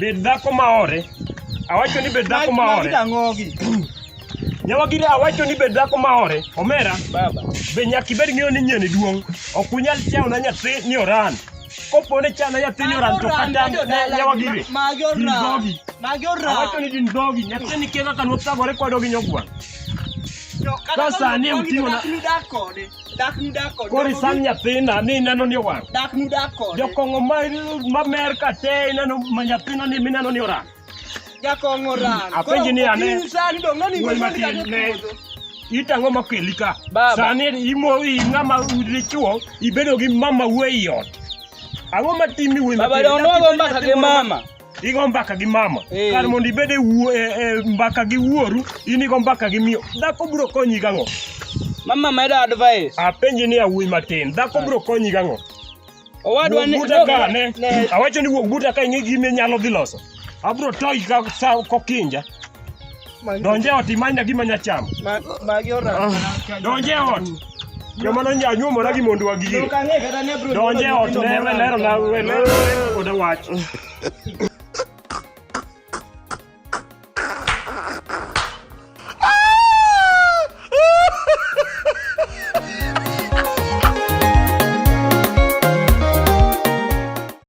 Bed dhako maore. Awacho ni bed dhako maore. Nyawagire awacho ni bed dhako maore. Omera. Baba. Be nyaka ibed ng'eyo ni nyeni duong'. Ok unyal chao na nyathi ni oran. Kopo ne chana nyathi ni oran to kata nyawagire. Magi oran. Magi oran. Awacho ni gin dhogi. Nyathi ni kega kanwotagore kwadogi nyogwang'. Ka sani e uting'o na. Koro isang nyathina ni ineno ni owang'. Jokong'o ma mer ka te ineno ma nyathina ni mineno ni orang. Jakong'o orang. Apenji ni ane. Wuoyi matin ne. Itang'o ma keli ka. Sani imo ing'ama dichuo ibedo gi mama wuoyi ot. Ang'o ma timi wuoyi matin? Baba donwago mbaka gi mama. igo mbaka gi mama hey. kar mondo ibed e, e, e mbaka gi wuoru in igo mbaka gi miyo dhako biro konyi gang'o mama medo advice apenji ni awuoyi matin dhako biro konyi gang'o owadwa ni buta ka ne awacho ni wuog buta ka ing'e gime nyalo dhi loso abro toyi ka sa kokinja Donje ot imany na gima nyacham. Magi ora. Donje ot. Joma no nya nyuomo na gimondu wa gigi. Donje ot ne we lero na we lero oda wach.